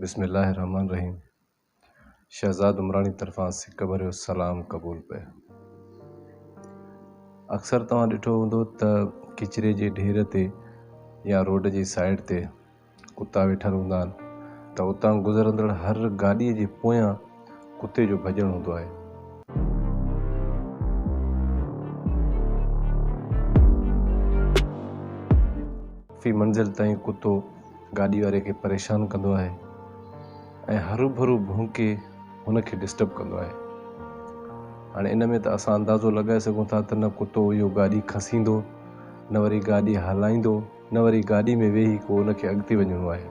بسم الله الرحمن الرحيم شهزاد عمراڻي طرفان سڪ ڀريو سلام قبول پئي اڪثر توهان ڏٺو هوندو ته ڪچري جي ڍير تي يا روڊ جي سائيڊ تي ڪتا ويٺل هوندا آهن ته اتان گذرندڙ هر گاڏيء جي پويان ڪتي جو ڀڄڻ هوندو آهي. في منزل تائين ڪتو گاڏي واري کي پريشان ڪندو آهي ۽ هروڀرو ڀونڪي هن کي ڊسٽرب ڪندو آهي. هاڻي ان ۾ ته اسان اندازو لڳائي سگهون ٿا ته نه ڪتو اهو گاڏي کسيندو نه وري گاڏي هلائيندو. نه وري گاڏي ۾ ويهي ڪو ان کي اڳتي وڃڻو آهي.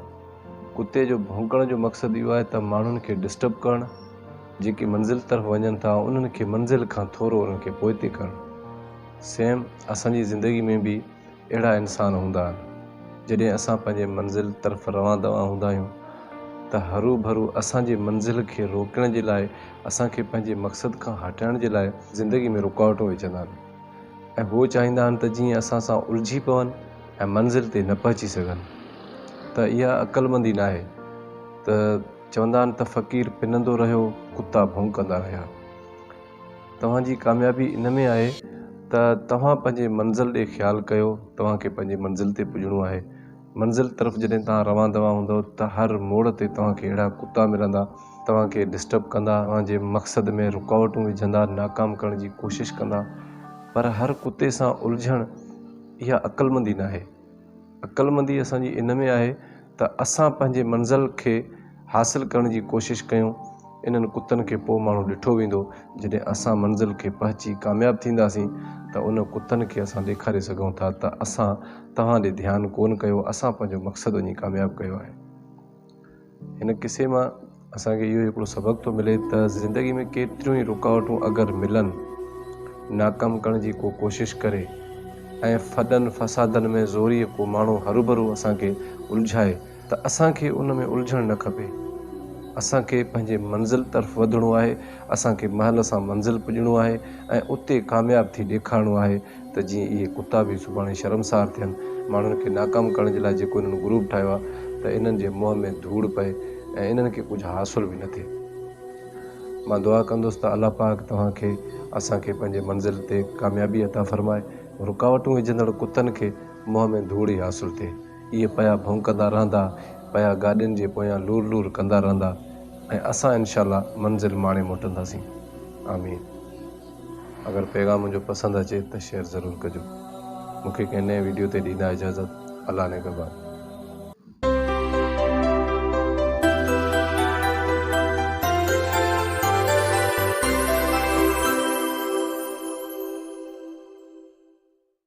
ڪتي جو ڀونڪڻ جو مقصد اهو آهي ته ماڻهن کي ڊسٽرب ڪرڻ، جيڪي منزل طرف وڃن ٿا انهن کي منزل کان ٿورو انهن کي پوئتي ڪرڻ. سيم اسان جي زندگي ۾ به اهڙا انسان هوندا آهن. جڏهن اسان پنهنجي منزل طرف روان دوان هوندا آهيون ته هروڀرو اسان جي منزل کي روڪڻ جي لاء اسان کي پنهنجي مقصد کان هٽائڻ جي لاء زندگي ۾ رڪاوٽون وجهندا آهن. ۽ هو چاهيندا آهن ته جيئن اسان سان الجهي پون ۽ منزل تي نه پهچي سگهن. ته اها عقلمندي ناهي. ته چوندا آهن ته فقير پنندو رهيو ڪتا ڀونڪندا رهيا. توهان جي ڪاميابي ان ۾ آهي ته توهان پنهنجي منزل ڏي خيال ڪيو توهان کي پنهنجي منزل تي پڄڻو آهي. منزل طرف جڏهن توهان روان دوان هوندؤ ته هر موڙ تي توهان کي اهڙا ڪتا ملندا توهان کي ڊسٽرب ڪندا توهان جي مقصد ۾ رڪاوٽون وجهندا ناڪام ڪرڻ جي ڪوشش ڪندا پر هر ڪتي سان الجهڻ اها عقلمندي ناهي عقلمندي اسان جي ان ۾ آهي ته اسان پنهنجي منزل کي حاصل ڪرڻ جي ڪوشش ڪيون، انهن ڪتن کي پوء ماڻهو ڏٺو ويندو، جڏهن اسان منزل کي پهچي ڪامياب ٿينداسين ته ان ڪتن کي اسان ڏيکاري سگهون ٿا ته اسان توهان ڏي ڌيان ڪون ڪيو، اسان پنهنجو مقصد وڃي ڪامياب ڪيو آهي. هن قصي مان اسان کي اهو هڪڙو سبق ٿو ملي ته زندگي ۾ ڪيتريون ئي رڪاوٽون اگر ملن، ناڪام ڪرڻ جي ڪو ڪوشش ڪري ۽ ڦڏن فسادن ۾ زوريء ڪو ماڻهو هروڀرو اسان کي الجهائي، ته اسان کي ان ۾ الجهڻ نه کپي. اسان کي پنهنجي منزل طرف وڌڻو آهي، اسان کي مهل سان منزل پڄڻو آهي ۽ اتي ڪامياب ٿي ڏيکارڻو آهي ته جيئن اهي ڪتا به سڀاڻي شرمسار ٿين، ماڻهن کي ناڪام ڪرڻ جي لاء جيڪو انهن گروپ ٺاهيو آهي ته انهن جي منهن ۾ ڌوڙ پئي ۽ انهن کي ڪجهه حاصل به نه ٿئي. مان دعا ڪندس ته الله پاڪ توهان کي اسان کي پنهنجي منزل تي ڪاميابي عطا فرمائي، رڪاوٽون وجهندڙ ڪتن کي منهن ۾ ڌوڙ ئي حاصل ٿئي. اهي پيا ڀونڪندا رهندا، پيا گاڏين جي پويان لور لور ڪندا رهندا ۽ اسان انشاء الله منزل ماڻي موٽنداسين. آمين. اگر پيغام منهنجو پسند اچي ته شيئر ضرور ڪجو. مون کي ڪنهن نئين ويڊيو تي ڏيندا اجازت. الله نگهبان.